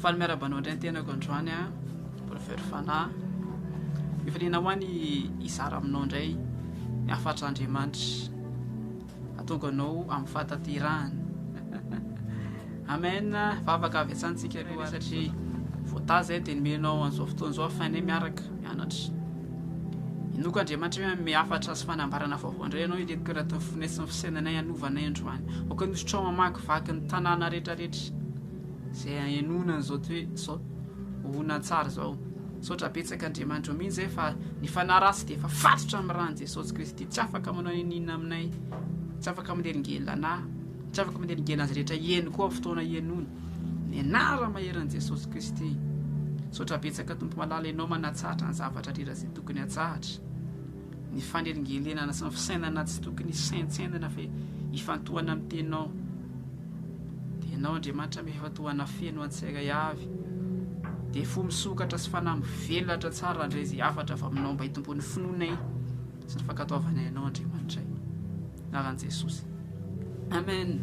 Faly miarahaba anao indray ny tenako androany a Prophète Fanahy. Mifaliana hoa ny hizara aminao indray ny hafatr'Andriamanitra hahatonga anao amin'ny fahatanterahana. Amen, vavaka avy hatrany tsika aloha satria voatahy izay dia nomenao an'izao fotoana izao afainay miaraka mianatra. Inoko Andriamanitra hoe hanome hafatra sy fanambarana vaovao indray ianao hireto karatin'ny fofonay sy ny fisainanay hanova anay androany. Aoka ny zotrao mamakivaky ny tanàna rehetrarehetra izay hahenoana an'izao toe, izao horonantsary izao. Misaotra betsaka Andriamanitra mihitsy izay fa ny fanahy ratsy dia efa fatotra amin'ny ran'i Jesosy Kristy. Tsy afaka manao n'inona aminay. Tsy afaka manelingelina anà. Tsy afaka mandeha ny gena azy rehetra heno koa fotoana henoana ny anara maheran'i Jesosy Kristy. Misaotra betsaka Tompo Malala Ianao manatsahatra ny zavatra rera izay tokony hatsahatra. Ny fanelingelenana sy ny fisainana tsy tokony hisaintsainana fa hifantohana amin'ny Teninao. Dia Ianao Andriamanitra mifantohana feno antsairay avy. Dia fo misokatra sy fanahy mivelatra tsara andray izay hafatra avy aminao mba hitomboan'ny finoanay. Sy ny fankatoavana ianao Andriamanitra e. Anaran'i Jesosy. Amen.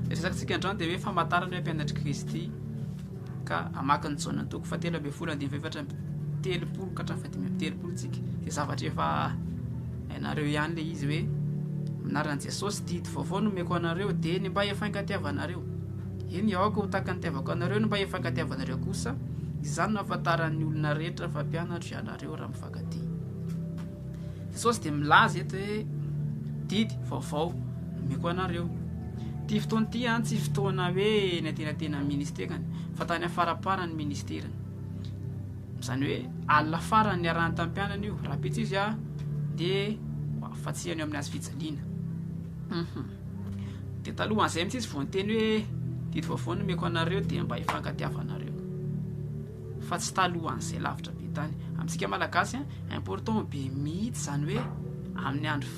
Ny resakantsika androany dia hoe famantarana hoe mpianatr'i Kristy ka hamaky ny Jaona toko fa telo ambin'ny folo andininy fahefatra amby telopolo ka hatramin'ny fahadimy amby telopolo tsika. Dia zavatra efa hainareo ihany ilay izy hoe anaran'i Jesosy didy vaovao no meko anareo dia ny mba hifankatiavanareo. Eny aoka ho takan'ny tiavako anareo ny mba hifankatiavanareo kosa izany no ahafantaran'ny olona rehetra fa mpianatro ianareo raha Mpifankatia. Jesosy dia milaza eto hoe, Didy vaovao no omeko anareo. Ity fotoana ity an, tsy fotoana hoe eny antenatenan'ny ministerany, fa tany afaramparan'ny ministerany. Izany hoe, alina farany niarahany tamin'ny mpianany io, rahampitso izy an, dia hoafatsihany eo amin'ny hazo fijaliana. Mhm. Dia talohan'izay mihitsy izy vao niteny hoe, Didy vaovao no omeko anareo, dia mba hifankatiavanareo. fa tsy talohan'izay lavitra be tany amintsika malagasy an, important be mihitsy izany hoe amin'ny andro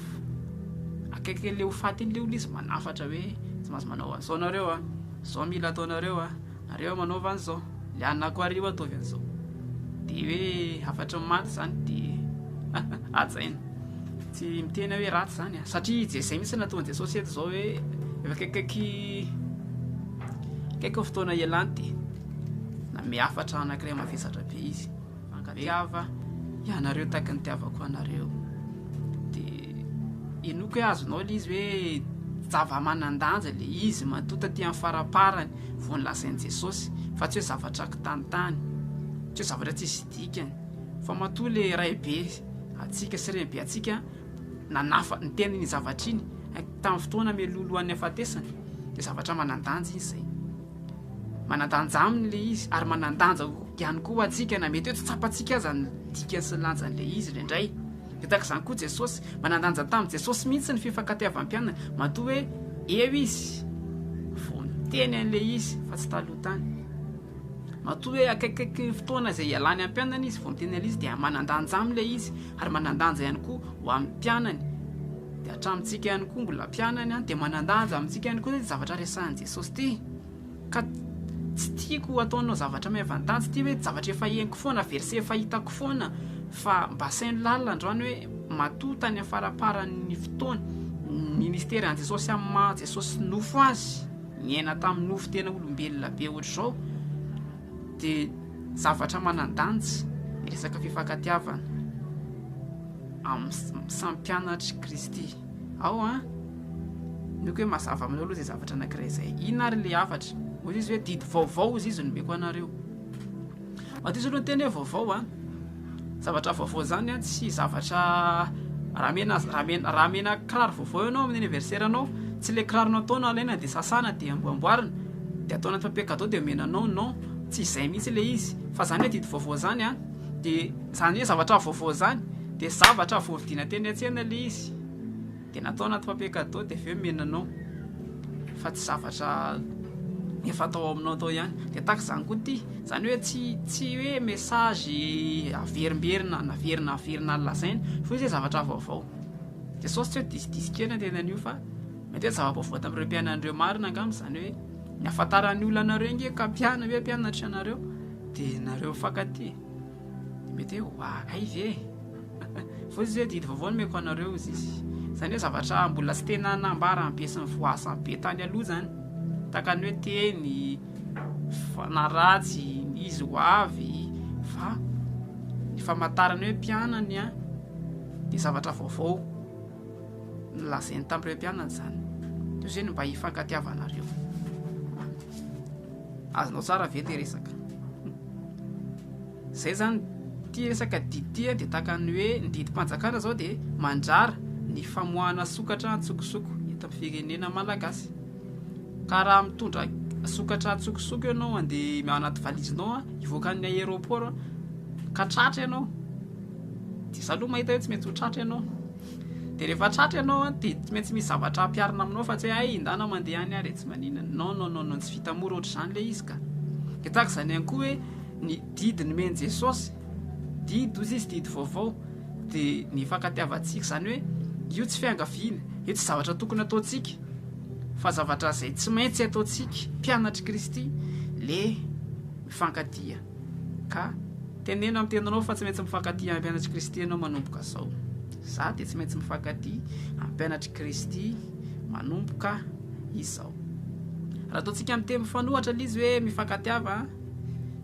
akaiky an'ilay ho faty iny ilay olona izy manafatra hoe tsy maintsy manao an'izao nareo an, izao mila ataonareo an, nareo manaova an'izao, ny anako ary io ataovy an'izao, dia hoe hafatry ny maty izany dia hajaina, tsy miteny aho hoe ratsy izany an, satria izay izay mihitsy no nataon'i Jesosy eto izao hoe efa akaikikaiky akaiky ny fotoana hialany dia. Nanome hafatra anankiray mavesatra be izy. Mankatiava ianareo taky ny tiavako anareo. Dia enoiko hoe azonao ilay izy hoe zava-manan-danja ilay izy matoa taty amin'ny faramparany vao nolazain'i Jesosy fa tsy hoe zavatra kitanitany, tsy hoe zavatra tsisy dikany fa matoa ilay Raibe antsika sy Renibe antsika nanafa- niteny iny zavatra iny tamin'ny fotoana mialoha alohan'ny hahafatesany dia zavatra manan-danja izy izay. Manan-danja aminy ilay izy ary manan-danja ihany koa ho antsika na mety hoe tsy tsapantsika aza ny dikany sy ny lanjan'ilay izy indraindray. Dia tahaka izany koa Jesosy. Manan-danja tamin'i Jesosy mihitsy ny fifankatiavam-pianany matoa hoe eo izy vao niteny an'ilay izy fa tsy taloha tany. Matoa hoe akaikikaiky ny fotoana izay hialany amin'ny mpianany izy vao miteny an'ilay izy dia manan-danja aminy ilay izy ary manan-danja ihany koa ho amin'ny mpianany. Dia hatramintsika ihany koa mbola mpianany dia manan-danja amintsika ihany koa ny zavatra resahin'i Sosthee, ka tsy tiako ataonao zavatra miavantaja ity hoe zavatra efa henoko foana, verset efa hitako foana fa mba asaino lalina androany hoe matoa tany amin'ny faraparan'ny fotoana ny mistery an'i Jesosy amin'ny maha Jesosy nofo azy niaina tamin'ny nofo tena olombelona be ohatr'izao dia zavatra manan-danja ny resaka fifankatiavana amin'ny samy mpianatr'i Kristy. ao an, omeko hoe mazava aminao aloha izay zavatra anankiray izay, inona ary ilay hafatra? Ohatra izy hoe didy vaovao izy izy no omeko anareo, matoa izy aloha niteny hoe vaovao an, zavatra vaovao izany an, tsy zavatra raha mena raha mena raha mena kiraro vaovao ianao amin'ny anniversaire anao, tsy ilay kiraro natao no alaina dia sasana dia amboamboarina dia atao anaty papier cadeau dia omena anao, non, tsy izay mihitsy ilay izy fa izany hoe didy vaovao izany an. Dia izany hoe zavatra vaovao izany dia zavatra vao vidiana teny an-tsena ilay izy dia natao anaty papier cadeau dia avy eo omena anao fa tsy zavatra efa tao aminao tao ihany. Dia tahaka izany koa ity, izany hoe tsy tsy hoe message averimberina naverina naverina nolazaina fa izy hoe zavatra vaovao. Dia sao tsy hoe disidisy kely ny teny an'io fa mety hoe zava-baovao tamin'ireo mpianany ireo marina angamba izany hoe ny ahafantaran'ny olona anareo ange ka mpianany hoe mpianatra ianareo. Dia nareo mifankatia mety hoe wa ay ve fa izy hoe didy vaovao no omeko anareo izy izy izany hoe zavatra mbola tsy tena nambara be sy nivoaza be tany aloha izany tahaka ny hoe teny fanaratsy ny izy ho avy fa ny famantarana hoe mpianany an dia zavatra vaovao nolazainy tamin'ireo mpianany izany toy izay no mba hifankatiavanareo Azonao tsara ve le resaka? Zay zany ty resaka didy ty de tahaka ny hoe ny didim-panjakana zao de mandrara ny famoahana sokatra an-tsokosoko eto amin'ny firenena malagasy. Ka raha mitondra sokatra an-tsokosoko ianao andeha ao anaty valizinao hivoaka ny aéroport ka tratra ianao de za aloha mahita hoe tsy maintsy ho tratra ianao. Dia rehefa tratra ianao an, dia tsy maintsy misy zavatra ampiharina aminao fa tsy hoe hay indana mandeha any ary e, tsy maninona. Non, non, non, non, tsy vita mora ohatr'izany ilay izy ka. Dia tahaka izany ihany koa hoe ny didy nomen'i Jesosy, didy hoy Izy, didy vaovao, dia ny hifankatiavantsika. Izany hoe io tsy fiangaviana, io tsy zavatra tokony hataontsika, fa zavatra izay tsy maintsy ataontsika, mpianatr'i Kristy, le mifankatia. Ka teneno amin'ny teninao fa tsy maintsy mifankatia ampianatr'i Kristy ianao manomboka izao. Izaho dia tsy maintsy mifankatia ampianatr'i Kristy manomboka izao. Raha ataontsika amin'ny teny mifanohatra ilay izy hoe mifankatiava,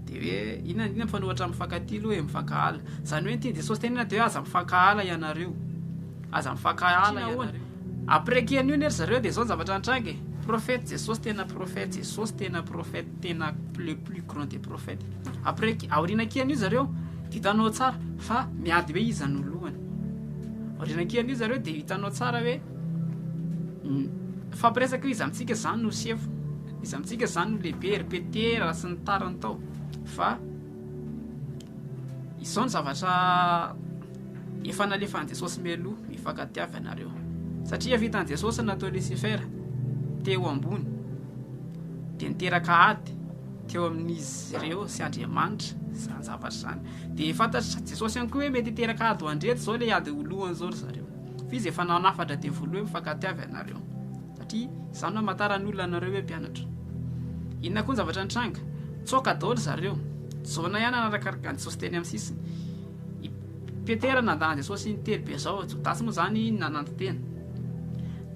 dia hoe inona inona mifanohatra amin'ny mifankatia aloha e, mifankahala. Izany hoe ny tian'i Jesosy tenenina dia hoe aza mifankahala ianareo. Aza mifankahala ianareo. Après ki anio anie ry zareo de zao ny zavatra nitranga e, prophète Jesosy tena prophète, Jesosy tena prophète tena le plus grand des prophètes, après ki aoriana ki anio zareo de hitanao tsara fa miady hoe iza no lohany, aoriana ki anio zareo de hitanao tsara hoe mifampiresaka hoe iza amintsika zany no sefo, iza amintsika zany no lehibe, ry Petera sy ny tariny tao fa izao ny zavatra. Efa nalefan'i Jesosy mialoha, mifankatia avy ianareo. Satria vitan'i Jesosy ny nataon'i Lisifera teo ambony, dia niteraka ady teo amin'izy ireo sy Andriamanitra izany zavatra izany. Dia fantatr'i Jesosy ihany koa hoe mety hiteraka ady ho andreto izao ilay ady ho lohany izao ry zareo. F'izy efa nanafatra devoly hoe mifankatia avy ianareo. Satria izany no hamantaran'ny olona anareo hoe mpianatra. Inona koa ny zavatra nitranga? Tsoaka daholo ry zareo. Jona ihany nanarakaraka an'i Jesosy teny amin'ny sisiny. I Petera nandà an'i Jesosy intelo be izao, Jodasy moa izany nananty tena.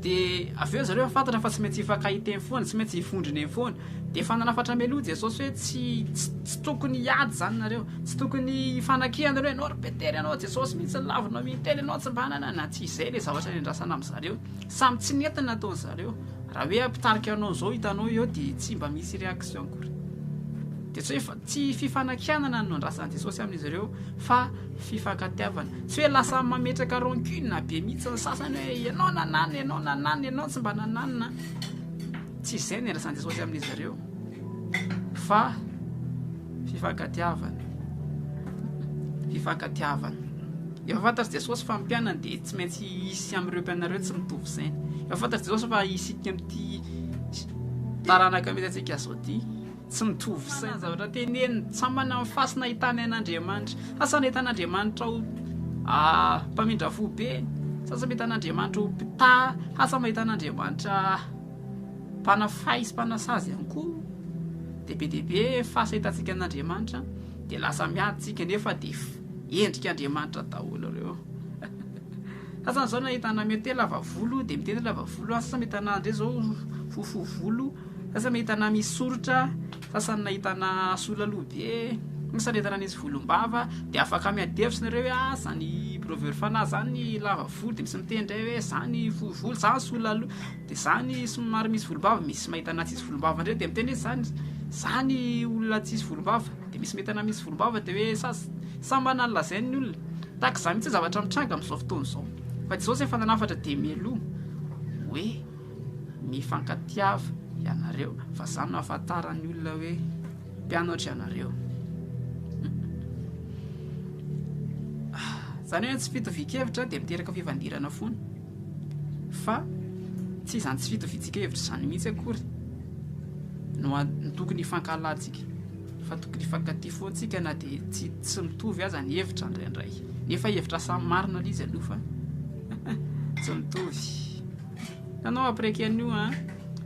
Dia avy eo zareo fantatra fa tsy maintsy hifankahita eny foana, tsy maintsy hivondrona eny foana. Dia efa nanafatra meloa Jesosy hoe tsy, tsy, tsy tokony hiady izany nareo, tsy tokony hifanakiana nareo, ianao ry Petera, ianao Jesosy mihitsy ny lavinao intelo, ianao tsy mba nanana aty. Izay ilay zavatra niandrasana amin'ny zareo. Samy tsy nety ny nataony zareo. Raha hoe mpitarika anao izao hitanao eo dia tsy mba misy réaction akory. Dia tsy hoe Tsy fifanakianana no andrasan'i Jesosy amin'izy ireo fa fifankatiavana. Tsy hoe lasa mametraka rancune be mihitsy ny sasany hoe ianao nanana, ianao nanana, ianao tsy mba nanana. Tsy izay no iandrasan'i Jesosy amin'izy ireo fa fifankatiavana. Fifankatiavana. Efa fantatr'i Jesosy fa ny mpianany dia tsy maintsy hisy amin'ireo mpianany ireo tsy mitovy saina. Efa fantatr'i Jesosy fa isika amin'ity taranaka misy antsika izao ity. Tsy mitovy saina ny zavatra teneniny. Samy manana ny fasina ahitany an'Andriamanitra. Sasany mahita an'Andriamanitra ho mpamindra fo be, sasany mahita an'Andriamanitra ho mpitaha, sasany mahita an'Andriamanitra mpanafahy sy mpanasazy ihany koa. Dia be dia be fasina ahitantsika an'Andriamanitra dia lasa miady isika nefa dia endrik'Andriamanitra daholo ireo. Sasany zao nahitana mete lava volo de mitety lava volo sasany nahitana ndray zao fohy fohy volo sasany nahitana misy soritra sasany nahitana sola loha be sasany nahitana nisy volombava de afaka miady hevitra nareo hoe ah zany brovero fanahy zany lava volo de misy miteny ndray hoe zany fohy volo zany sola loha de zany somary misy volombava misy mahitana tsisy volombava ndray de miteny hoe zany zany olona tsisy volombava de misy mahitana misy volombava de hoe sa- samy manana ny lazainy ny olona Tahaka izany mihitsy ny zavatra mitranga amin'izao fotoana izao. Fa Jesosy efa nanafatra dia mialoha hoe mifankatiava ianareo fa izany no ahafantaran'ny olona hoe mpianatro ianareo. Izany hoe tsy fitovian-kevitra dia miteraka fifandirana foana. Fa tsy izany tsy fitovian-kevitra izany mihitsy akory no tokony hifankahalantsika. fa tokony hifankatia foana tsika na dia tsy tsy mitovy aza ny hevitra indraindray nefa hevitra samy marina le izy aloha fa tsy mitovy nanao après kenio a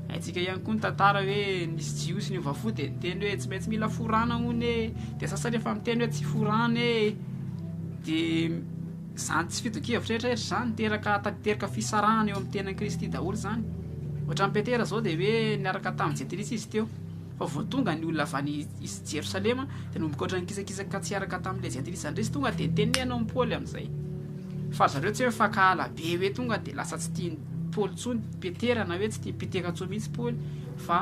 aitsika ihany koa ny tantara hoe nisy jiosy ny ovafo dia niteny hoe tsy maintsy mila forana hono e dia sasany efa miteny hoe tsy forana e dia zany tsy fitokevitra rehetra rehetra zany teraka teraka fisarahana eo amin'ny tenan'i kristy daholo zany ohatran'i petera zao dia hoe niaraka tamin'i jetilisa izy teo Fa vao tonga ny olona avy any Jerosalema, dia nanomboka ohatran'ny kisakisaka ka tsy hiaraka tamin'ilay Jentilisa indrisy. Tonga dia teneno amin'i Paoly amin'izay. Fa ry zareo tsy hoe mifankahala be hoe tonga dia lasa tsy tian'i Paoly intsony Petera, na hoe tsy tian'i Petera intsony mihitsy Paoly, fa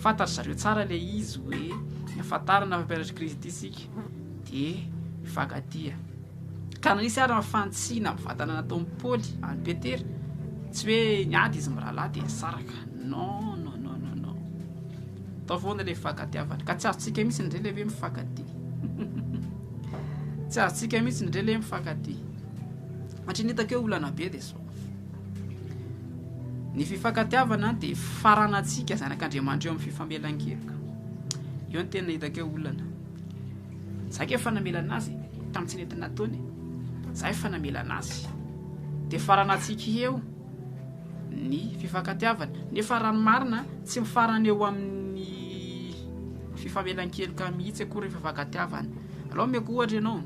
fantatry zareo tsara ilay izy hoe, ahafantarana fa mpianatr'i Kristy isika, dia mifankatia. Ka nanisy ary ny fantsihina amin'ny vatana nataon'i Paoly an'i Petera. Tsy hoe niady izy mirahalahy dia nisaraka. Non, non, non, non, non. Tao foana ilay fifankatiavana. Ka tsy azontsika mihitsy ny rela ve mifankatia. Tsy azontsika mihitsy ny rela mifankatia. Hatry ny hitako eo olana be dia zao. Ny fifankatiavana dia faranantsika zanak'Andriamanitra eo amin'ny fifamelan-keloka. Eo ny tena hitako eo olana. Za ke efa namela anazy tam tsy nety nataony za efa namela anazy de farana tsiky eo ny fifankatiavana nefa raha ny marina tsy mifarana eo amin'ny fifamelan-keloka mihitsy akory fifankatiavana alao meko ohatra ianao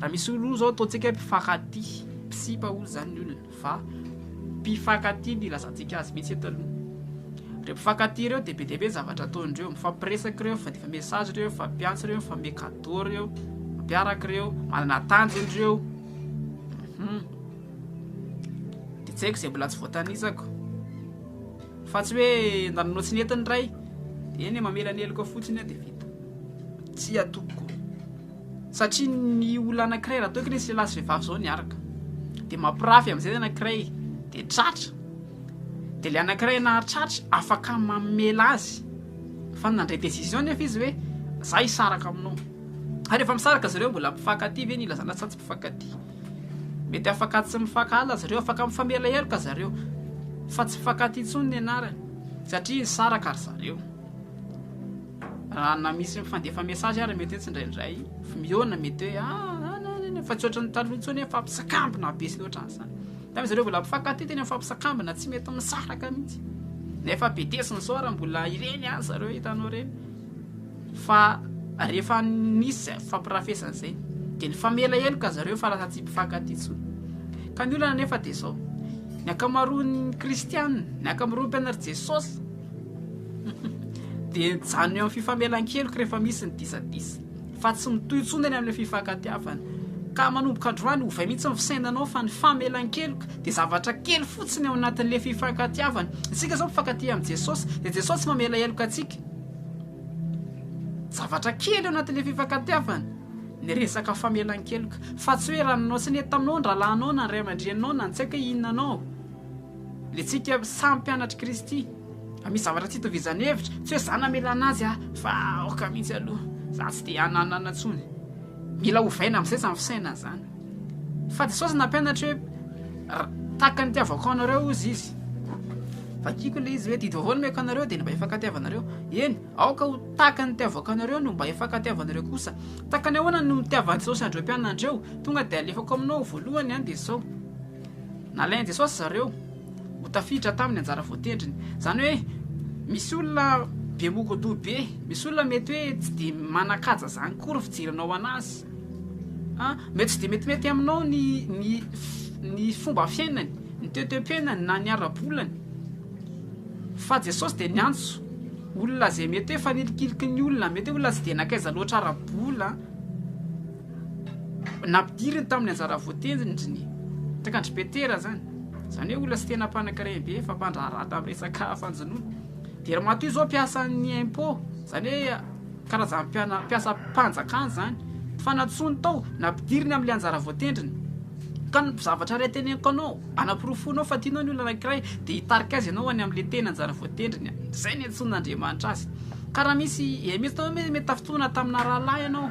raha misy olona zao ataontsika mpifankatia mpisipa olona zany ny olona Fa mpifankatia no ilazantsika azy mihitsy eto aloha. Ireo mpifankatia ireo dia be dia be ny zavatra ataony ireo. Mifampiresaka ireo, mifandifa message ireo, mifampiantso ireo, mifanome cadeau ireo, mifampiaraka ireo, manana tanjony ireo. Hum. Dia tsy haiko izay mbola tsy voatanisako. Fa tsy hoe nananao tsy nety ny iray, eny e, mamelaneloka fotsiny aho dia vita. Tsia tompoko. Satria ny olona anankiray raha toa ka nisy lehilahy sy vehivavy izao niaraka dia mampirafy amin'izay ny anankiray dia tratra dia ilay anankiray nahatratra afaka mamela azy fa nandray décision nefa izy hoe za hisaraka aminao ary efa misaraka zareo mbola mpifankatia ve ny ilazana sa tsy mpifankatia mety afaka tsy mifankahala zareo afaka mifamela heloka zareo fa tsy mifankatia intsony ny anarany satria nisaraka ry zareo Raha na misy mifandefa message ary mety hoe tsindraindray miona mety hoe ah, ah fa tsy ohatran'ny taloha intsony hoe fampisakambina be sy ohatran'izany. Tamin'ny zareo mbola mpifankatia tena fampisakambina tsy mety misaraka mihitsy. Nefa betesy ny soara mbola ireny azy zareo hitanao ireny. Fa rehefa nisy fampirafesana izay dia ny famela heloka zareo fa lasa tsy mpifankatia intsony. Ka ny olana nefa dia izao. Ny ankamaroan'ny kristianina, ny ankamaroan'ny mpianatr'i Jesosy Dia mijanona eo amin'ny fifamelan-keloka rehefa misy ny disadisa, fa tsy mitohy intsony eny amin'ny fifankatiavana. Ka manomboka androany, ovay mihitsy ny fisainanao fa ny famelan-keloka dia zavatra kely fotsiny ao anatin'ilay fifankatiavana. Isika izao mifankatia amin'i Jesosy, dia Jesosy mamela heloka antsika. Zavatra kely ao anatin'ilay fifankatiavana ny resaka famelan-keloka, fa tsy hoe ranonao sy ny entanao, ny rahalahinao na ny ray aman-dreninao na ny tsy haiko hoe inona anao. Ilay tsika samy mpianatr'i Kristy. Raha misy zavatra tsy itovizan'ny hevitra, tsy hoe izaho namela an'azy aho, fa aoka mihitsy aloha, izaho tsy te hananana intsony. Mila ovaina amin'izay izany fisainana izany. Fa Jesosy nampianatra hoe, Tahaka ny itiavako anareo, hozy Izy. Vakiko ilay izy hoe, Didy vaovao no omeko anareo, dia ny mba hifankatiavanareo. Eny, aoka ho tahaka ny itiavako anareo no mba hifankatiavanareo kosa. Tahaka ny ahoana no nitiavan'i Jesosy an'ireo mpianany ireo? Tonga dia alefako aminao voalohany, dia izao. Nalain'i Jesosy zareo ho tafiditra taminy anjara voatendriny. Zany hoe misy olona be mogodoha be, misy olona mety hoe tsy de manakaja zany kory fijerinao anazy. Ha, mety tsy de metimety aminao ny ny ny fomba fiainany, ny toe-toe-piainany na ny ara-bolany. Fa Jesosy de niantso olona zay mety hoe fanilikiliky ny olona, mety hoe olona tsy de nankaiza loatra ara-bola. nampidiriny tamin'ny anjara voatendriny, takandry Petera zany, zany hoe olona tsy tena mpanankarena be fa mpandraharaha tamin'ny resaka fanjonoana, dia ry Matoa izao mpiasan'ny impôt, zany hoe karazana mpiana- mpiasam-panjakana zany, fa nantsoiny tao, nampidiriny amin'ilay anjara voatendriny, ka ny zavatra iray teneniko anao, anaporofoinao fa tianao ny olona anankiray, dia hitarika azy ianao any amin'ilay tena anjara voatendriny, izay niantsoan'Andriamanitra azy, ka raha misy, eh, mety tafitohina tamina rahalahy ianao,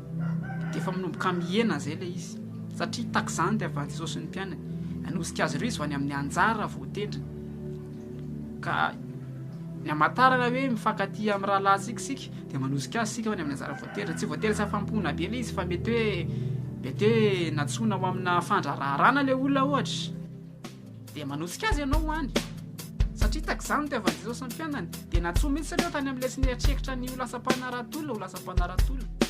dia efa minomboka mihena izay ilay izy, satria tahaka izany ilay vavan'i Jesosy ny mpianany, nanosika azy ireo izy vao any amin'ny anjara vao tendriny, ka ny hamantarana hoe mifankatia amin'ny rahalahintsika isika dia manosika azy isika ho any amin'ny anjara vao tendriny, tsy voatery tsy afa-mihona be ilay izy fa mety hoe mety hoe nantsoina ho amina fandrararana ilay olona ohatra. dia manosika azy ianao ho any satria takizany ny tiavan'i Jesosy ny fiainany dia natsoa mihitsy ireo tany amin'ny lesy nieritreritra ny ho lasa mpanarato-olona ho lasa mpanarato-olona